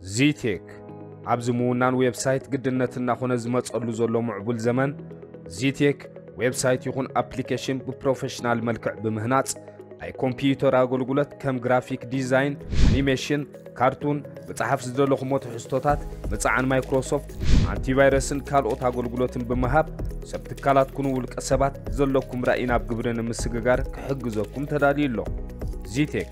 ዚቴክ ኣብዚ ምውናን ዌብሳይት ግድነት እናኾነ ዝመጸሉ ዘሎ ምዕቡል ዘመን ዚቴክ ዌብሳይት ይኹን ኣፕሊኬሽን ብፕሮፌሽናል መልክዕ ብምህናጽ ናይ ኮምፒዩተር ኣገልግሎት ከም ግራፊክ ዲዛይን፣ ኣኒሜሽን፣ ካርቱን፣ ምጽሓፍ ዝደለኹሞ ትሕዝቶታት፣ ምጽዓን ማይክሮሶፍት፣ ኣንቲቫይረስን ካልኦት ኣገልግሎትን ብምሃብ ሰብ ትካላት ኩኑ ውልቀ ሰባት ዘለኩም ራእይ ናብ ግብሪ ንምስግጋር ክሕግዘኩም ተዳልዩ ኣሎ። ዚቴክ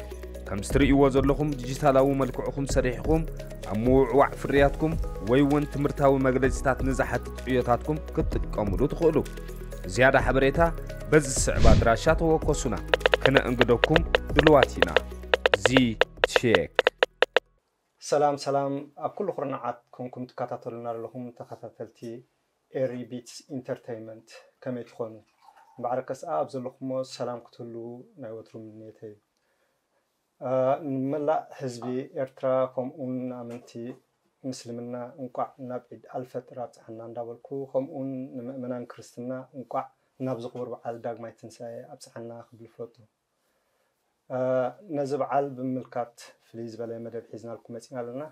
ከምዚ ትርእይዎ ዘለኹም ዲጂታላዊ መልክዕኹም ሰሪሕኹም ኣብ ምውዕዋዕ ፍርያትኩም ወይ እውን ትምህርታዊ መግለጺታት ንዝሓትት ዕዮታትኩም ክትጥቀሙሉ ትኽእሉ። ዝያዳ ሓበሬታ በዚ ዝስዕብ ኣድራሻ ተወከሱና ክነእንግደኩም ድልዋት ኢና። ዚ ቼክ ሰላም ሰላም ኣብ ኩሉ ኩርናዓት ኮንኩም ትከታተሉና ዘለኹም ተኸታተልቲ ኤሪ ቢትስ ኢንተርተይመንት ከመይ ትኾኑ እምበዓርከስኣ ኣብ ዘለኹሞ ሰላም ክትህልዉ ናይ ወትሩ ምንየተይ እዩ። ንመላእ ህዝቢ ኤርትራ ከምኡውን ንኣመንቲ ምስልምና እንቋዕ ናብ ዒድ ኣልፈጥር ኣብጽሓና እንዳበልኩ ከምኡውን ንመእመናን ክርስትና እንቋዕ ናብዚ ክቡር በዓል ዳግማይ ትንሳኤ ኣብጽሓና ክብል እፈቱ። ነዚ በዓል ብምምልካት ፍልይ ዝበለ መደብ ሒዝናልኩም መጺና ኣለና።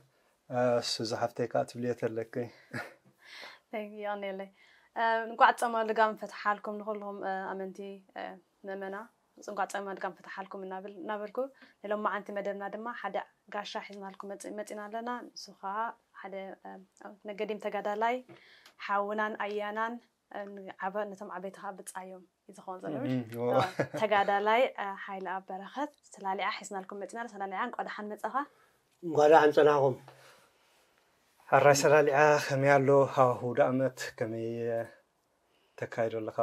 ሱዚ ሃፍተይ ከዓ ትብልዮ ተለኪ የቀንየለይ እንቋዕ ጸማ ልጋም ፈትሓልኩም ንኩልኩም ኣመንቲ ምእመና ጽጓጸ ማድጋም ፍታሓልኩም እናብል እናበልኩ ንሎማዓንቲ መደብና ድማ ሓደ ጋሻ ሒዝናልኩም መጽ መጺና ኣለና ንሱ ከኣ ሓደ ነገዲም ተጋዳላይ ሓውናን ኣያናን ዓበ ነቶም ዓበይቲ ከኣ ብጻዮም እዩ ዝኸውን ዘሎ እህ፣ ዎ። አ፣ ተጋዳላይ አ፣ ሓይለኣብ በረኸት ሰላሊዓ ሒዝናልኩም መጺና ኣለ ሰላሊዓ እንቋ ደሓን መጻኻ እንኳ ደሓን ፀናኹም። ሐራይ ሰላሊዓ ከመይ ኣሎ ሃዋህው ደኣመት ከመይ ተካይዶ ኣለኻ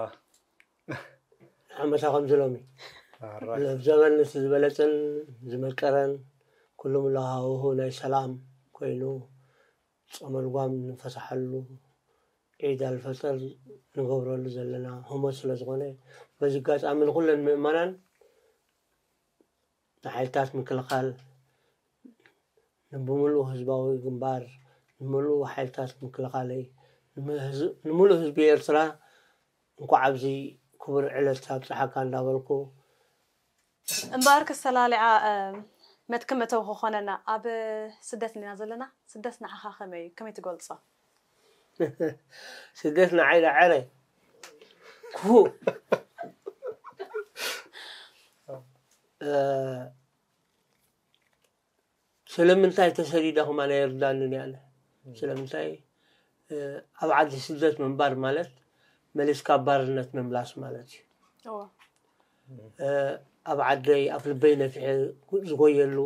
ዓመታ ከምዚ ሎሚ ኣብ ዘበን እቲ ዝበለፅን ዝመቀረን ኩሉ ምሎ ሃውሁ ናይ ሰላም ኮይኑ ፆመ ልጓም ንፈታሓሉ ዒድ ኣልፈጥር ንገብረሉ ዘለና ህሞት ስለዝኾነ በዚ ኣጋጣሚ ንኩለን ምእመናን ንሓይልታት ምክልኻል፣ ንብምሉኡ ህዝባዊ ግንባር፣ ንምሉኡ ሓይልታት ምክልኻለይ፣ ንምሉእ ህዝቢ ኤርትራ እንኳዕ ኣብዚ ክቡር ዕለት ኣብጽሓካ እንዳበልኩ፣ እምበኣር ክሰላልዓ መትከም እተው ክኾነና ኣብ ስደት እንዲና ዘለና ስደት ንዓኻ ከመይ እዩ ከመይ ትገልጾ? ስደት ንዓይ ዳዓረ ክፉእ ስለምንታይ ተሰዲደ ከማን ኣይርዳንን ያለ ስለምንታይ ኣብ ዓዲ ስደት ምንባር ማለት መሊስካ ባርነት ምምላስ ማለት እዩ ኣብ ዓደይ ኣብ ልበይ ነፊሐ ዝጎየሉ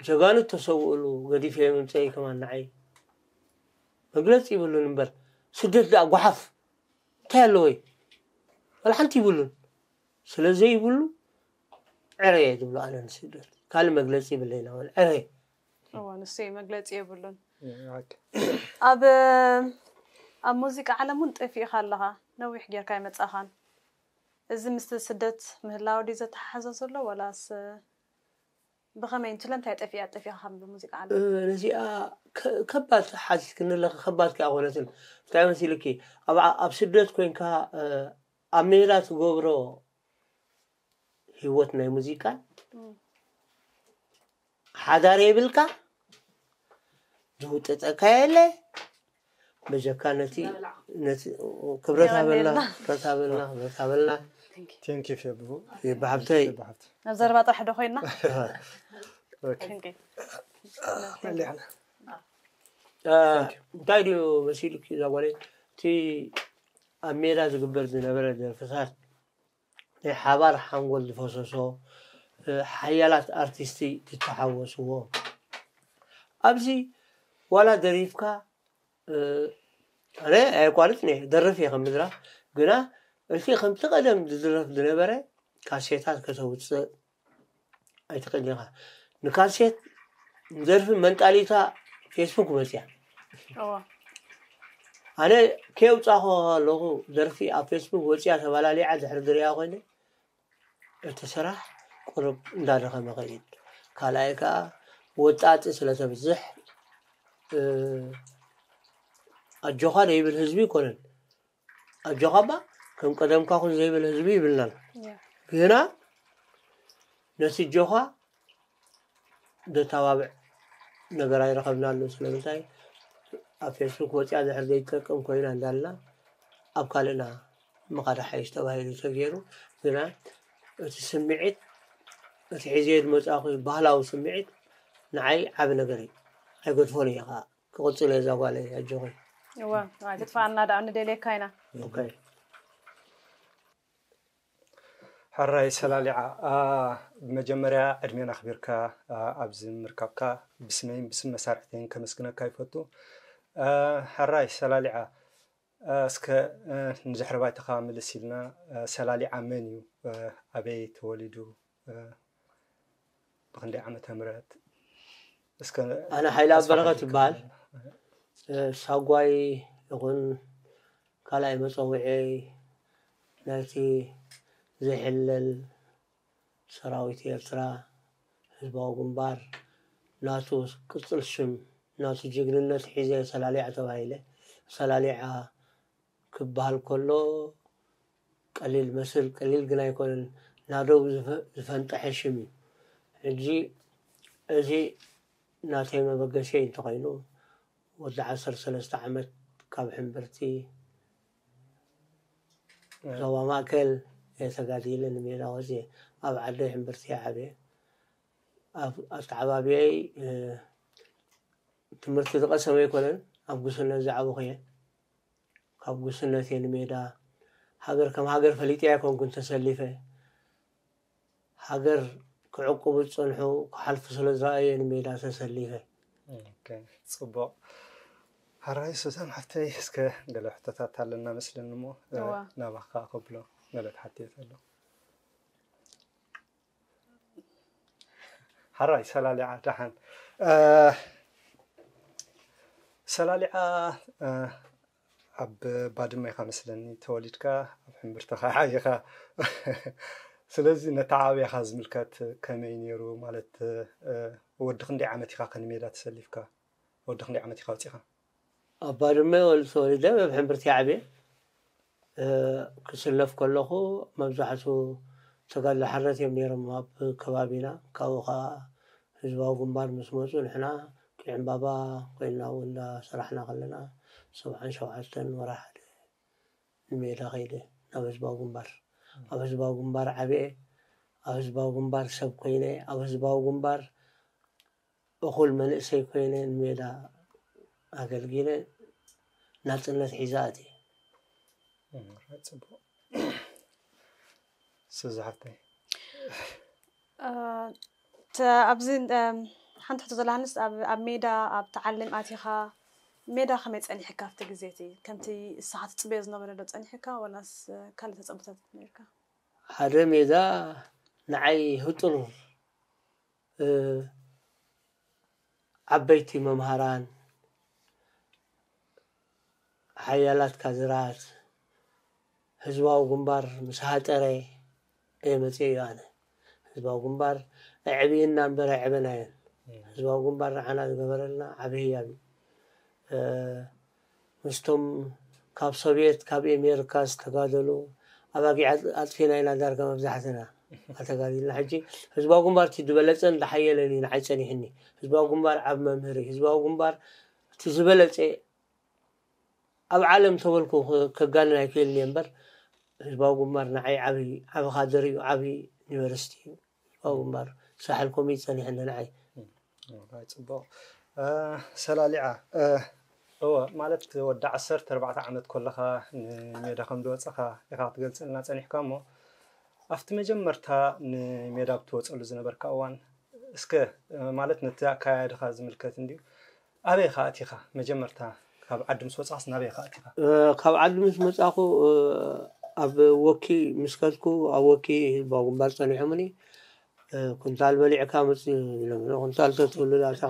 ጀጋኑ ዝተሰውእሉ ገዲፈዮ ምምጸኢ ከማን ንዓይ መግለጺ ይብሉን እምበር ስደት ደኣ ጓሓፍ እንታይ ኣለዎ እዩ ዋላ ሓንቲ ይብሉን ስለ ዘይብሉ ዕረ እየ ዝብሎ ኣነ ንስደት ካልእ መግለፂ ይብለይና ውን ዕረ ንሱ መግለፂ የብሉን ኣብ ኣብ ሙዚቃ ዓለም እውን ጠፊእኻ ኣለኻ ነዊሕ ጌርካ ይመፃኻን እዚ ምስ ስደት ምህላው ድዩ ዘተሓሓዞ ዘሎ ዋላስ ብኸመይ ን ስለምታይ ጠፊኣ ጠፊኣ ካብ ሙዚቃ ዓለም? ነዚኣ ከባድ ሓቲትክኒ ኣለኺ ከባድ ከኣ ኣይኮነትን እንታይ መሲልኪ ኣብ ስደት ኮንካ ኣብ ሜላ ትገብሮ ሂወት ናይ ሙዚቃ ሓዳር የብልካ ዝውጥጠካ የለ በጀካ ነቲ ነቲ ክብረት ሃበልና ክብረት ሃበልና ክብረት ሃበልና ቴንኪ ፌቡ ፌቡ ሓብተይ ናብ ዘረባ ጥራሕ ዶ ኮይና እንታይ ድዩ መሲሉኪ እዛ ጓለይ እቲ ኣብ ሜዳ ዝግበር ዝነበረ ደርፍታት ናይ ሓባር ሓንጎል ዝፈሰሶ ሓያላት ኣርቲስቲ ዝተሓወስዎ ኣብዚ ዋላ ደሪፍካ ኣነ ኣየቋርፅን እየ ደርፍ እየ ከም ምድራፍ ግና እቲ ከምቲ ቀደም ዝድረፍ ዝነበረ ካሴታት ከተውፅእ ኣይትኽእልን ኢኻ ንካሴት ንደርፊ መንጣሊታ ፌስቡክ መፅያ ኣነ ከየውፃኹ ኣለኹ ደርፊ ኣብ ፌስቡክ ወፅያ ተባላሊዓ ድሕሪ ድሪያ ኮይነ እቲ ስራሕ ቁርብ እንዳደኸመ ኸይድ ካልኣይ ከዓ ወጣጢ ስለተብዝሕ ኣጆኻ ዘይብል ህዝቢ ይኮነን ኣጆኻ እባ ከም ቀደምካ ኩን ዘይብል ህዝቢ ይብልናን ግና ነቲ ጆኻ ደታባብዕ ነገር ኣይረኸብናሉ ስለምንታይ ኣብ ፌስቡክ ወፅያ ድሕር ዘይትጠቅም ኮይና እንዳልና ኣብ ካልእና ምኻድ ሓይሽ ተባሂሉ ተገይሩ ግና እቲ ስምዒት እቲ ሒዘ ዝመፃኹ ባህላዊ ስምዒት ንዓይ ዓብ ነገር እዩ ኣይገድፎን እየ ከዓ ክቕፅል እየ እዛ ጓለይ ኣጆኺ እወ ኣይትጥፋኣና ደኣ ንደልየካ ኢና ኦኬ ሕራይ ሰላሊዓ ብመጀመርያ ዕድሜን ኣኽቢርካ ኣብዚ ምርካብካ ብስመይን ብስም መሳርሕተይን ከመስግነካ ይፈቱ ሕራይ ሰላሊዓ እስከ ንድሕሪ ባይታኻ ምልስ ኢልና ሰላሊዓ መን እዩ ኣበይ ተወሊዱ ብክንደይ ዓመተ ምህረት እስከ ኣነ ሓይላ በረኸት ይበሃል ሳጓይ ይኹን ካልኣይ መፀውዒ ናይቲ ዘይሕለል ሰራዊት ኤርትራ፣ ህዝባዊ ግንባር፣ ናቱ ቅጽል ሽም፣ ናቱ ጅግንነት ሒዘ ሰላሊዓ ተባሂለ። ሰላሊዓ ክበሃል ከሎ ቀሊል መስል ቀሊል ግን ኣይኮነን፣ ናደው ዝፈንጠሐ ሽም እዩ። ሕጂ እዚ ናተይ መበገሲየይ እንተኾይኑ ወዲ ዓሰርተ ሰለስተ ዓመት ካብ ሕምብርቲ፣ ዞባ ማእከል እየ ተጋዲለ ንሜዳ ወጺኤ ኣብ ዓደይ ሕምብርቲ እየ ዓብየ ኣብ ኣተዓባብየይ ትምህርቲ ዝቐሰመ ኣይኮነን ኣብ ጉስነት ዝዓበኹ እየ ካብ ጉስነት እየ ንሜዳ ሃገር ከም ሃገር ፈሊጠ ኣይኮንኩን ተሰሊፈ ሃገር ክዕቁቡ ዝጸንሑ ክሓልፉ ስለ ዝረኣየ ንሜዳ ተሰሊፈ። ኦኬ ጽቡቕ ሐራይ ሱዛን ሓፍተይ እስከ ገለ ሕቶታት ኣለና መስለኒ እሞ እዋ። ናባኻ ከብሎ ገለ ክሓትት ኣሎ ሐራይ ሰላሊዓ ደሓን እ፣ ሰላሊዓ እ፣ ኣብ ባድመ ኢኻ መስለኒ ተወሊድካ ኣብ ሕምብርተኻ ዓይኻ ስለዚ ነታ ዓብያኻ ዝምልከት ከመይ ኔሩ ማለት ወዲ ክንደይ ዓመት ኢኻ ከንሜዳ ተሰሊፍካ ወዲ ክንደይ ዓመት ኢኻ ወጺኻ። ኣብ ባድመ ተወሊደ ኣብ ሕምብርቲ ዓብየ ክስለፍ ከለኹ መብዛሕቱ ተጋድሎ ሓርነት እዮም ኔሮም ኣብ ከባቢና ካብኡ ካኣ ህዝባዊ ግንባር ምስ መጹ ንሕና ዕምባባ ኮይንና እውን እንዳ ሰራሕና ከለና ሰብዓን ሸውዓተን ወርሓ ሓደ ንሜዳ ከይደ ናብ ህዝባዊ ግንባር ኣብ ህዝባዊ ግንባር ዓብየ ኣብ ህዝባዊ ግንባር ሰብ ኮይነ ኣብ ህዝባዊ ግንባር እኹል መንእሰይ ኮይነ ንሜዳ ኣገልጊለ ናፅነት ሒዛ ኣትየ። ሱዚ ሓፍተይ ኣብዚ ሓንቲ ሕቶ ዘላንስ ኣብ ሜዳ ኣብ ተዓሊም ኣቲኻ ሜዳ ከመይ ጸኒሕካ ኣብቲ ግዜ እቲ ከምቲ ንስኻ ትጽበዮ ዝነበረ ዶ ጸኒሕካ ዋላስ ካልእ ተጸብታት ነርካ ሓደ ሜዳ ንዓይ ህጡር ዓበይቲ መምሃራን፣ ሓያላት ካድራት፣ ህዝባዊ ግንባር ምስ ሃጠረ እየ መጺኤዮ ኣነ። ህዝባዊ ግንባር ኣዕብዩና እምበር ኣየዕበናዮን። ህዝባዊ ግንባር ንዓና ዝገበረልና ዓቢ ህያብ እዩ። ምስቶም ካብ ሶቭየት ካብ ኤሜርካ ዝተጋደሉ ኣባጊዕ ኣጥፊና ኢና ዳርጋ መብዛሕትና ኣተጋዲልና ሕጂ ህዝባዊ ግንባር እቲ ዝበለጸን ዝሓየለን እዩ ንዓይ ጸኒሕኒ ህዝባዊ ግንባር ዓብ መምህሪ ህዝባዊ ግንባር እቲ ዝበለጸ ኣብ ዓለም ተበልኩ ከጋንን ኣይክእልን እየ እምበር ህዝባዊ ግንባር ንዓይ ዓብይ ዓብ ካድር እዩ ዓብይ ዩኒቨርሲቲ እዩ ዋው እምባር ሳሕል ኮሜዲ ጸኒሐኒ ንዓይ። ዋይ ጽቡቅ ሰላሊዓ እወ ማለት ወዲ ዓሰርተ ኣርባዕተ ዓመት ኮለኻ ንሜዳ ከም ዝወጸኻ ኢኻ ክትገልጸልና ጸኒሕካ እሞ ኣብቲ መጀመርታ ንሜዳ ብትወጸሉ ዝነበርካ እዋን እስከ ማለት ነቲ ኣካያድኻ ዝምልከት እንድዩ ኣበይ ኢኻ ኣቲኻ መጀመርታ ካብ ዓዲ ምስ ወጻእካስ ናበይ ኢኻ ኣቲኻ? ካብ ዓዲ ምስ መጻእኩ ኣብ ወኪ ምስ ከድኩ ኣብ ወኪ ህዝባዊ ግንባር ጸኒሖምኒ ኩንታል በሊዕካ ምጽ ኢሎምኒ ኩንታል ተትውልድ ኣርካ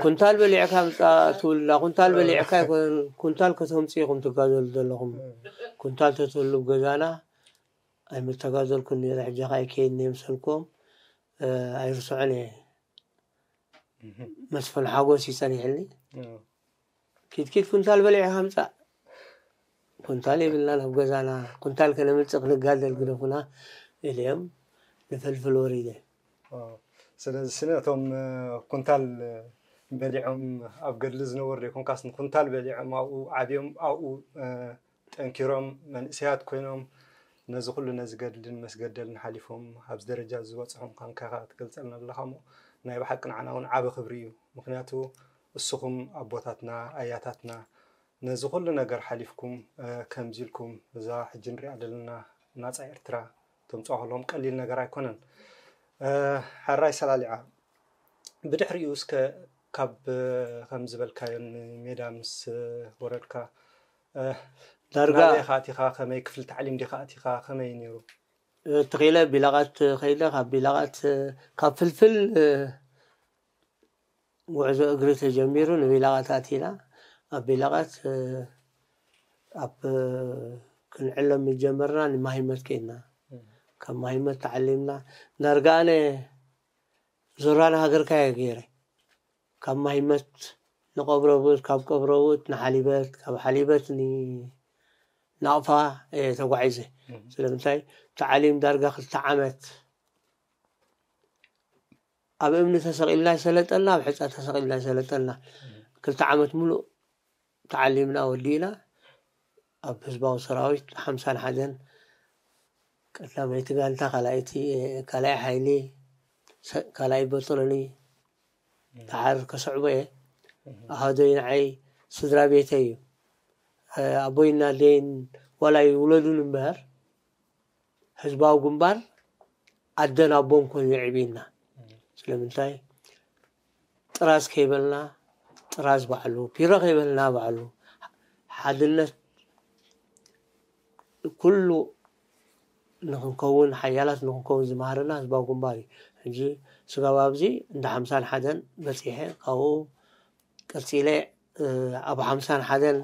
ኩንታል በሊዕካ ምጻ ትውልዳ ኩንታል በሊዕካ ኣይኮነን ኩንታል ከተምጽ ኢኹም ትጋዘሉ ዘለኹም ኩንታል ተትህሉ ገዛና ኣይምተጋዘልኩን ነይረ ሕጂ ከኣ ይከይድ ነየምሰልኩም ኣይርስዖን እየ መስፍን ሓጎስ እዩ ፀኒሕኒ ኪትኪት ኩንታል በሊዕኻ ምፃእ ኩንታል የብልና ናብ ገዛና ኩንታል ከነምፅእ ክንጋደል ግደፉና ኢልዮም ንፈልፍል ወሪደ ስለዚ ስነ እቶም ኩንታል በሊዖም ኣብ ገድሊ ዝነበሩ ዘይኮንካስ ንኩንታል በሊዖም ኣብኡ ዓብዮም ኣብኡ ጠንኪሮም መንእሰያት ኮይኖም ነዚ ኩሉ ነዚ ገድልን መስገደልን ሓሊፎም ኣብዚ ደረጃ እዚ ዝበጽሑ ምዃንካ ኢኻ ትገልጸልና ዘለኻሞ ናይ ብሓቂ ንዓና ውን ዓቢ ክብሪ እዩ ምኽንያቱ እሱኹም ኣቦታትና ኣያታትና ነዚ ኩሉ ነገር ሓሊፍኩም ከምዚ ኢልኩም እዛ ሕጂ ንሪኣ ዘለና ናጻ ኤርትራ ተምጽኦ ከለኹም ቀሊል ነገር ኣይኮነን ሓራይ ሰላሊዓ ብድሕሪኡ እስከ ካብ ከም ዝበልካዮ ሜዳ ምስ ወረድካ ዳርጋ ኢኻ ኣቲኻ ከመይ ክፍሊ ታዕሊም ዲኻ ኣቲኻ ከመይ እዩ ነይሩ? ተኺለ ቢላቓት ከይደ ካብ ቢላቓት ካብ ፍልፍል ጉዕዞ እግሪ ተጀሚሩ ንቢላቓት ኣቲና ኣብ ቢላቓት ኣብ ክንዕለም ምጀመርና ንማሂመት ከይድና ካብ ማሂመት ተዓሊምና ዳርጋ ኣነ ዙራን ሃገርካ እየ ገይረ ካብ ማይመት ንቀብረውት ካብ ቀብረውት ንሓሊበት ካብ ሓሊበት ንናቕፋ እየ ተጓዒዘ ስለምንታይ ተዓሊም ዳርጋ ክልተ ዓመት ኣብ እምኒ ተሰቒልና ይሰለጠልና ኣብ ሕፃ ተሰቒልና ይሰለጠልና ክልተ ዓመት ምሉእ ተዓሊምና ወዲእና ኣብ ህዝባዊ ሰራዊት ሓምሳን ሓደን ቀዳመይቲ ጋንታ ካልኣይቲ ካልኣይ ሓይሊ ካልኣይ በጥሎኒ ደሓር ከስዕቦ እየ ኣሃዶይ ንዓይ ስድራ ቤተ እዩ ኣቦይና ኣደይን ዋላ ይውለዱን እምበኣር ህዝባዊ ግንባር ኣደን ኣቦን ኮይኑ የዕብዩና ስለምንታይ ጥራዝ ከይበልና ጥራዝ ባዕሉ ፒሮ ከይበልና ባዕሉ ሓድነት ኩሉ ንክንከውን ሓያላት ንክንከውን ዝመሃረና ህዝባዊ ግንባር እዩ ሕጂ ስጋብ ኣብዚ እንዳ ሓምሳን ሓደን በፂሐ ካብኡ ቀፂለ ኣብ ሓምሳን ሓደን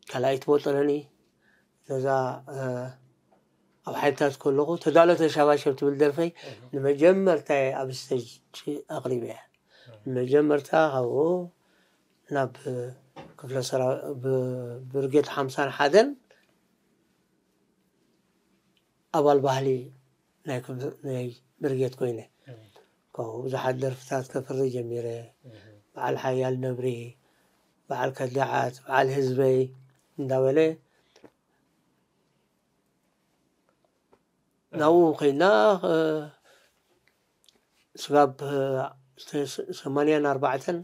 ካልኣይቲ ቦጠለኒ ነዛ ኣብ ሓይልታት ከለኹ ተዳሎ ተሻባሸብ ትብል ደርፈይ ንመጀመርታ ኣብ ስተጅ ኣቕሪበ እያ ንመጀመርታ ካብኡ ናብ ክፍለ ሰራ ብብርጌድ ሓምሳን ሓደን ኣባል ባህሊ ናይ ብርጌድ ኮይነ ካብኡ ብዙሓት ደርፍታት ከፍሪ ጀሚረ በዓል ሓያል ነብሪ በዓል ከዳዓት በዓል ህዝበይ እንዳበለ ናብኡ ኮይና ስጋብ ሰማንያን ኣርባዕተን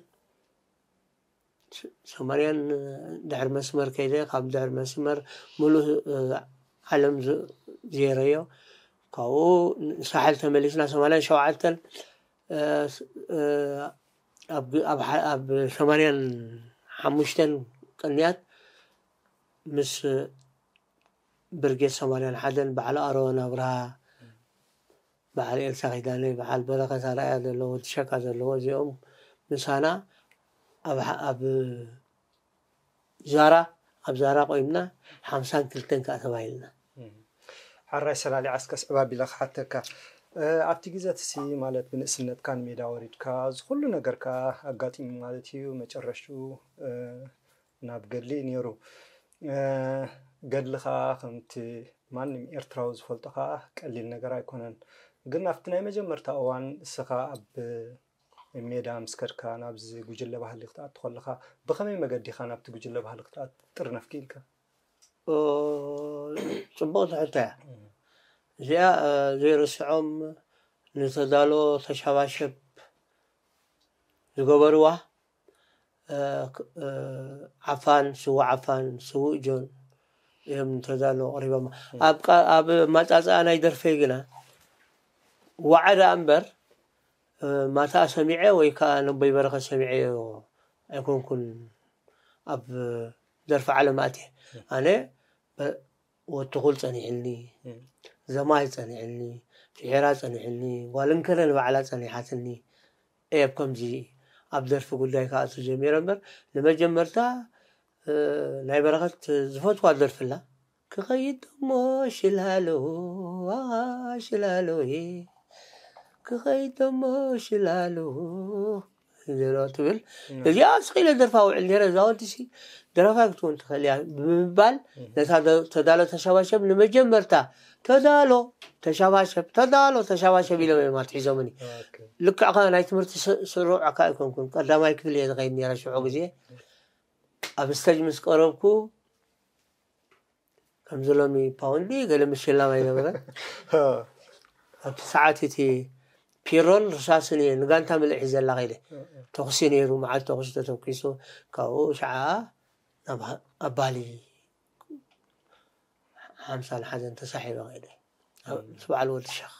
ሰማርያን ድሕሪ መስመር ከይደ ካብ ድሕሪ መስመር ምሉእ ዓለም ዜረዮ ካብኡ ሳሕል ተመሊስና ሰማርያን ሸውዓተን ኣብ ሰማርያን ሓሙሽተን ቅንያት ምስ ብርጌድ ሰማርያን ሓደን ባዕሉ ኣሮን ኣብርሃ በዓል ኤልሳ ኪዳነ በዓል በረከት ኣርኣያ ዘለዎ ዲሸቃ ዘለዎ እዚኦም ምሳና ኣብ ኣብ ዛራ ኣብ ዛራ ቆይምና ሓምሳን ክልተን ከዓ ተባሂልና ሓራይ ሰላሊ ዓስከስ ዕባቢለ ክሓተካ ኣብቲ ግዜ ትሲ ማለት ብንእስነትካ ንሜዳ ወሪድካ ዝኩሉ ነገርካ ኣጋጢሙ ማለት እዩ መጨረሽትኡ ናብ ገድሊ እዩ ኔሩ ገድሊ ከኣ ከምቲ ማንም ኤርትራዊ ዝፈልጦ ከኣ ቀሊል ነገር ኣይኮነን ግን ኣብቲ ናይ መጀመርታ እዋን እስኻ ኣብ ሜዳ ምስ ከድካ ናብዚ ጉጅለ ባህሊ ክትኣቱ ከለኻ ብኸመይ መገዲ ኢኻ ናብቲ ጉጅለ ባህሊ ክትኣቱ ጥርነፍ ክኢልካ ጽቡቕ ትሕተ እያ እዚኣ ዘይርስዖም ንተዳሎ ተሻባሸብ ዝገበርዋ ዓፋን ስዉእ ዓፋን ስዉእ ጆን እዮም ተዳሎ ቀሪቦም ኣብ ማፃፅኣ ናይ ደርፈይ ግና ዋዓ ደኣ እምበር ማታ ሰሚዐ ወይ ከዓ ነቦይ በረኸ ሰሚዐ ኣይኮንኩን ኣብ ደርፊ ዓለም ኣትየ ኣነ ወትኹል ጸኒሑኒ፣ ዘማይ ጸኒሑኒ፣ ፍሒራ ጸኒሑኒ፣ ጓል እንከለ ንባዕላ ጸኒሓትኒ እየ ብ ከምዚ ኣብ ደርፊ ጉዳይ ክኣቱ ጀሚረ እምበር ንመጀመርታ ናይ በረኸት ዝፈትዋ ደርፊ ኣላ ክኸይድ ደሞ ሽላሎ ኣኻ ሽላሎየ ክኸይድ ደሞ ሽላሎ ዘረባ ትብል እዚኣ ስኺለ ደርፋ ውዕል ነረ እዛ ወዲሲ ደረፋይ ክትኮን ትኽእል እያ ብምባል ነታ ተዳሎ ተሸባሸብ ንመጀመርታ ተዳሎ ተሸባሸብ ተዳሎ ተሸባሸብ ኢሎም እዮም ኣትሒዞምኒ ልክዕ ከ ናይ ትምህርቲ ስሩዕ ኣካ ኣይኮንኩን ቀዳማይ ክፍሊ እየ ዝኸይድ ነረ ሽዑ ግዜ ኣብ ስተጅ ምስ ቀረብኩ ከምዚ ሎሚ ፓውንድ ገለ ምሽላም ኣይነበረን ኣብቲ ሰዓት እቲ ፒሮን ርሳስን እየ ንጋንታ ምልእ ሒዘላ ከይደ ተኩሲ ነይሩ መዓል ተኩሲ ተተኪሱ ካብኡ ሸዓ ናብ ኣባሊ ሓምሳን ሓዘን ተሳሒበ ከይደ ምስ በዓል ወዲ ሸኽ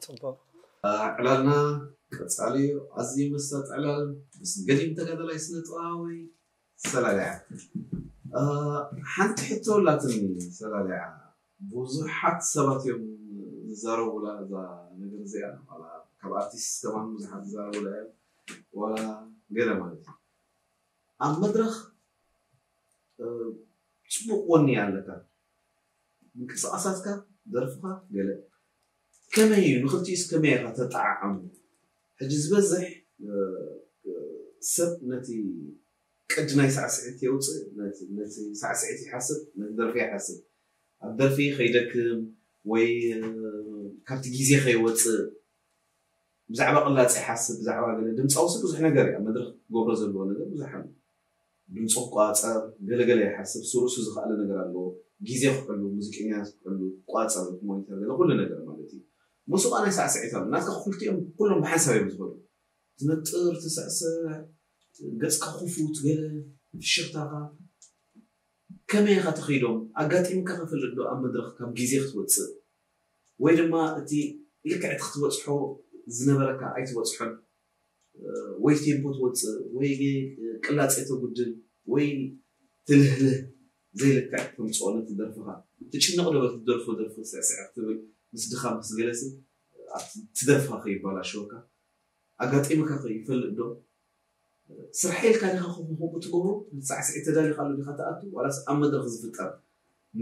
ፅቡቅ ዕላልና ቀፃሊ እዩ ኣዝዩ መሳጢ ዕላል ምስ ገዲም ተጋዳላይ ስነ ጥበባዊ ሰላሊዓ ሓንቲ ሕቶ ኣላትኒ ሰላሊዓ ቡዙሓት ሰባት እዮም ዝዛረቡላ እዛ ነገር እዚኣ ዋላ ካብ ኣርቲስት ከማን ቡዙሓት ዝዛረቡላ እዮም ዋላ ገለ ማለት እዩ ኣብ መድረኽ ጽቡቅ ወኒ ኣለካ ምንቅስቃሳትካ ደርፍካ ገለ ከመይ እዩ ንክልቲኡስ ከመይ ኢካ ተጣዓዓሙ ሕጂ ዝበዝሕ ሰብ ነቲ ቅዲ ናይ ሳዕስዒት የውጽእ፣ ነቲ ሳዕስዒት ይሓስብ፣ ነቲ ደርፊ ኣይሓስብን። ኣብ ደርፊ ከይደክም ወይ ካብቲ ግዜ ከይወጽእ ብዛዕባ ቅላጽ ይሓስብ፣ ብዛዕባ ገለ። ድምጻውሲ ብዙሕ ነገር እዩ፣ ኣብ መድረኽ ክገብሮ ዘለዎ ነገር ብዙሕ ኣሎ። ድምጹ ክቋጸር ገለ ገለ ይሓስብ ሱሩሱ ዝክኣለ ነገር ኣለዎ ግዜ ክሕሉ ሙዚቀኛታት ክሕሉ ክቋጸር እቲ ሞኒተር ገለ ኩሉ ነገር ማለት እዩ ሙሱቃ ናይ ሳዕስዒት ኣሎ ናትካ ኩልቲኦም ኩሎም ብሓንሳብ እዮም ዝከዱ ትነጥር ትስዕስዕ ገጽካ ክፉት ገለ ፍሽኽታኻ ከመይ ኢኻ ትኺዶም ኣጋጢምካ ክፍልጥ ዶ ኣብ መድረኽ ካብ ግዜ ክትወጽእ ወይ ድማ እቲ ልክዕ እቲ ክትበጽሖ ዝነበረካ ኣይትበጽሖን ወይ ቴምፖ ትወጽእ ወይ ቅላጼ ተጉድል ወይ ትልህልህ ዘይልክዕ ተምጽኦ ነቲ ደርፍኻ። ትጭነቕ ዶ በቲ ትደርፎ ደርፊ ስዕስዕ ክትብል ምስ ድኻምካስ ገለሲ ኣብቲ ደርፍኻ ከይባላሸወካ። ኣጋጢሙካኸ ይፈልጥ ዶ? ስርሐይ ኢልካ ዲኻ ከምኡ ከምኡ ትገብሮ ነቲ ሳዕስዒት ተዳሊኻሉ ዲኻ ትኣቱ ዋላስ ኣብ መድረኽ ዝፍጠር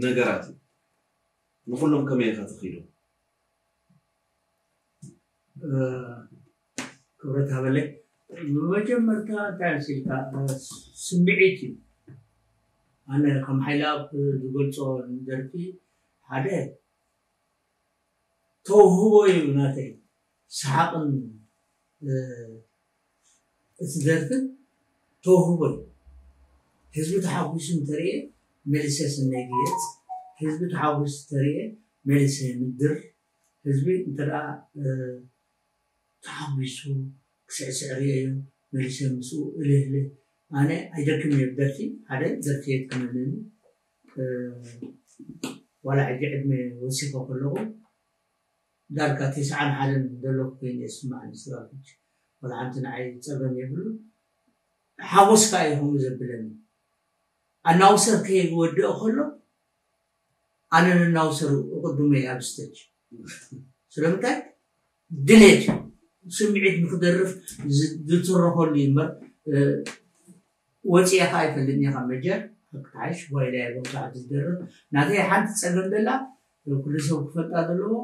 ነገራት እዩ? ንኹሎም ከመይ ኢኻ ተኺዶም? ክብረት ሃበለይ ብመጀመርታ እንታይ መሲልካ ስምዒት እዩ ኣነ ከም ሓይላብ ዝገልፆ ደርፊ ሓደ ተውህቦ እዩ ናተይ ሰሓቕን እቲ ደርፍን ተውህቦ እዩ ህዝቢ ተሓጒሱ እንተርእየ መልሰ ሰናይ ግየፅ ህዝቢ ተሓጒሱ ተርእየ መልሰ ምድር ህዝቢ እንተደኣ ተሓጒሱ ክስዕስዕ ሪኤዮ መሊሰ ምስኡ እልህ እልህ ኣነ ኣይደክም እየ ብደርፊ ሓደ ዘርፊ የጥዕመኒ ዋላ ሕጂ ዕድመ ወሲኮ ከለኩ ዳርጋ ተስዓን ሓደን ዘለኩ ኮይኑ እየ ዝስመዓኒ ስራዊት ዋላ ሓንቲ ንዓይ ጸገም የብሉ ሓጎስካ እዩ ከምኡ ዘብለኒ ኣናውሰር ከይወድኦ ከሎ ኣነ ነናውሰሩ እቕድሞ'የ ኣብ ስተጅ። ስለምንታይ? ድሌት'ዩ። ስምዒት ንኽደርፍ ዝትረኸሉ'ዩ እምበር ወጺኤካ ኣይፈልጥን'የ ካብ መጀር። ሓቅ'ትሓይሽ ጓይላ'የ ኣብዚ ሰዓት ዝደርፍ። ናተይ ሓንቲ ጸገም ዘላ ኩሉ ሰብ ክፈልጣ ዘለዎ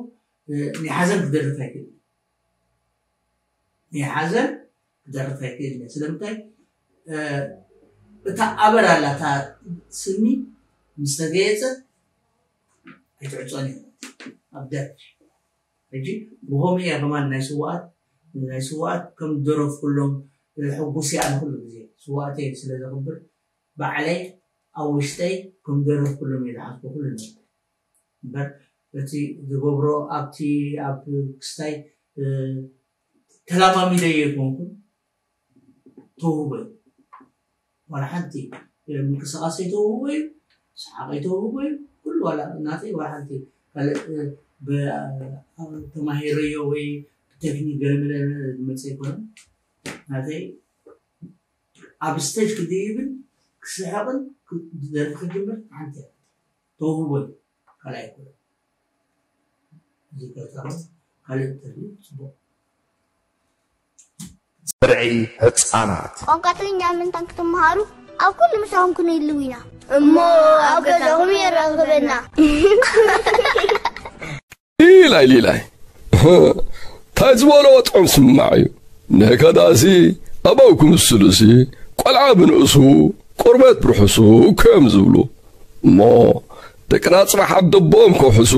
ናይ ሓዘን ክደርፍ ኣይክእልን። ናይ ሓዘን ክደርፍ ኣይክእልን እየ ስለምንታይ እታ ኣበር ኣላ እታ ስኒ ምስ ተገየፀ ኣይትዕፆን እያ ኣብ ደርፊ ሕጂ ብኸምኡ እያ ከማን ናይ ስዋኣት ናይ ስዋኣት ከም ደረፍ ኩሎም ሕጉስ እያ ንኩሉ ግዜ ስዋኣተይ ስለ ዘኽብር ባዕለይ ኣብ ውሽጠይ ከም ደረፍ ኩሎም እየ ዝሓስቦ ኩሉ ነገር እምበር እቲ ዝገብሮ ኣብቲ ኣብ ክስታይ ተላማሚደዮ ኣይኮንኩን ተውህቦይ ዋላ ሓንቲ ምንቅስቃሰይ ተውህቦ እዩ ሰሓቀይ ተውህቦ እዩ ኩሉ ዋላ ናተይ ዋላ ሓንቲ ካልእ ተማሂረዮ ወይ ብቴክኒክ ገለመለ ዝመፅ ኣይኮነ ናተይ ኣብ ስተጅ ክድይብን ክስሕቅን ደርፊ ክጅምር ሓንቲ ተውህቦ እዩ ካልኣይ ኩሉ ብርዒ ህጻናት። ቋንቋ ትግርኛ ምንታን ክትመሃሩ ኣብ ኩሉ ምሳኹም ክንህልው ኢና እሞ ኣብ ገዛኹም የራኽበና። ሊላይ ሊላይ እንታይ ዝበልዎ ጥዑም ስማዕ እዩ ነከዳሲ ኣባው ክምስሉሲ ቆልዓ ብንእሱ ቁርበት ብርሑሱ እኮ እዮም ዝብሉ እሞ ደቅና ጽባሕ ኣደቦኦም ከውሕሱ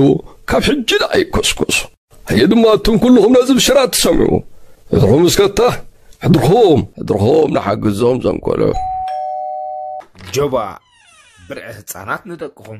ካብ ሕጂ ደኣ ይኮስኮሱ ኣየ ድማ እቱም ኩልኹም ነዚ ብሽራት ትሰምዑ ሕድርኹም እስከታ ሕድርኹም ሕድርኹም ንሓግዞም ዘንኮሎ ጆባ ብርዒ ህፃናት ንደቅኹም